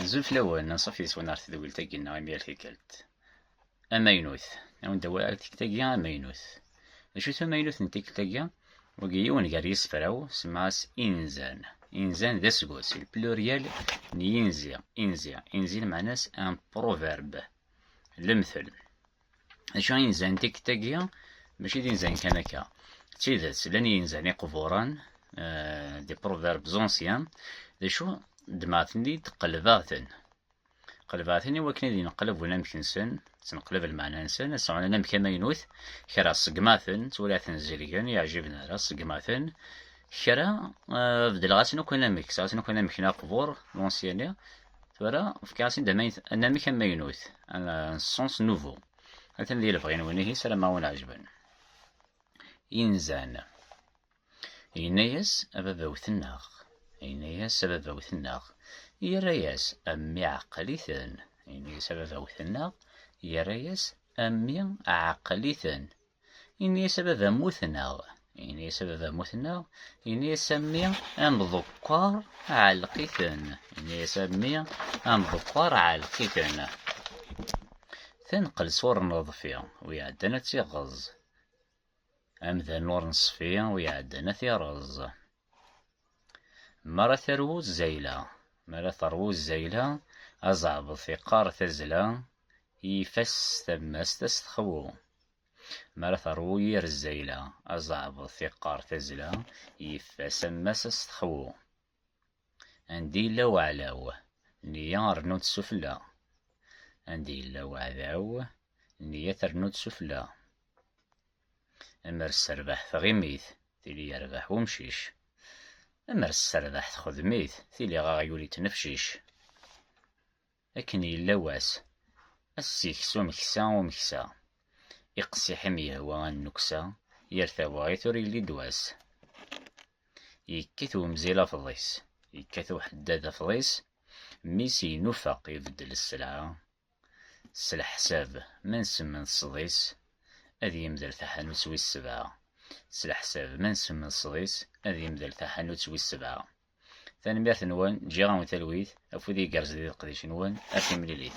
Azul fell-awen, anṣuf yes-wen ar tedwilt-agi neɣ imi ar tikkelt amaynut. Ad wen d-awiɣ ar tikkelt-agi amaynut. D acu-t amaynut n tikkelt-agi? Wagi yiwen gar yisefra-w, semmaɣ-as inzan. Inzan d aseggas, c'est le pluriel n yinzi. Inzi, inzi lmeɛna-s un proverbe, lemtel. Acu ay inzan tikkelt-agi? Maci d inzan kan akka. D tidet, llan yinzan iqburen, eh, des proverbes anciens, d acu ddmeɣ-ten-id, qelbeɣ-ten. Qelbeɣ-ten i wakken ad ineqleb unamek-nsen, ttneqlab lmeɛna-nsen, ad sɛun anamek amaynut, kra ṣeggmeɣ-ten, ttwalaɣ-ten zelgen, yeɛjiben ara, ṣeggmeɣ-ten, kra eh, beddleɣ-asen akk anamek, sɛu-ten akk anamek n aqbur, lansiyani, Tura, fkiɣ-as-id anamek amaynut, un sens nouveau. Atan di lebɣi-nwen ihi, ssarameɣ ad wen-ɛejben. Inzan. Yenna-yas a baba-w tennaɣ. Yenna-yas a baba-w tennaɣ. Yerra-yas a mmi ɛqel-iten. Yenna-yas a baba-w tennaɣ. Yerra-yas a mmi ɛqel-iten. Ini-as a baba muten-aɣ. Ini-as a baba muten-aɣ. Ini-as a mmi amḍekkar ɛelqiten. Ini-as a mmi amḍekkar ɛelqiten. Tanqel sur neḍfi, wi iɛeddan ad tiɣeẓ. Amdan ur neṣfi, wi iɛeddan ad tireẓ. Mi ara terwu zzayla. Mi ara terwu zzayla, azeɛbeḍ iqqar tazla i yifas s tammast ad s-texwu. Mi ara terwu yir zzayla, azeɛbeḍ iqqar tazla i yifas ammas ad s-texwu. Anda yella waɛlaw, nniya rnu-tt sufella. Anda yella waɛdaw, nniya ternu-tt sufella. Amer sserbeḥ tɣimit, tili yerbeḥ umcic. Amer sserbeḥ texdem-it, tili aɣyul ittnefcic. Akken yella wass, ass ikess umeksa umeksa. Iqessiḥ i m-yehwa a nnuksa, yir tawaɣit ur yelli d wass. Yekkat umzil afḍis, yekkat uḥeddad afḍis, mmi-s yenufeq ibeddel sselɛa. S leḥsab, ma nsemmeḍ sḍis, ad yemdel taḥanut wis sebɛa. S leḥsab, ma nsemmeḍ sḍis, ad yemdel taḥanut wis sebɛa. Tanemmirt-nwen, ǧǧiɣ-awen talwit, afud igerrez di leqdic-nwen, ar timlilit.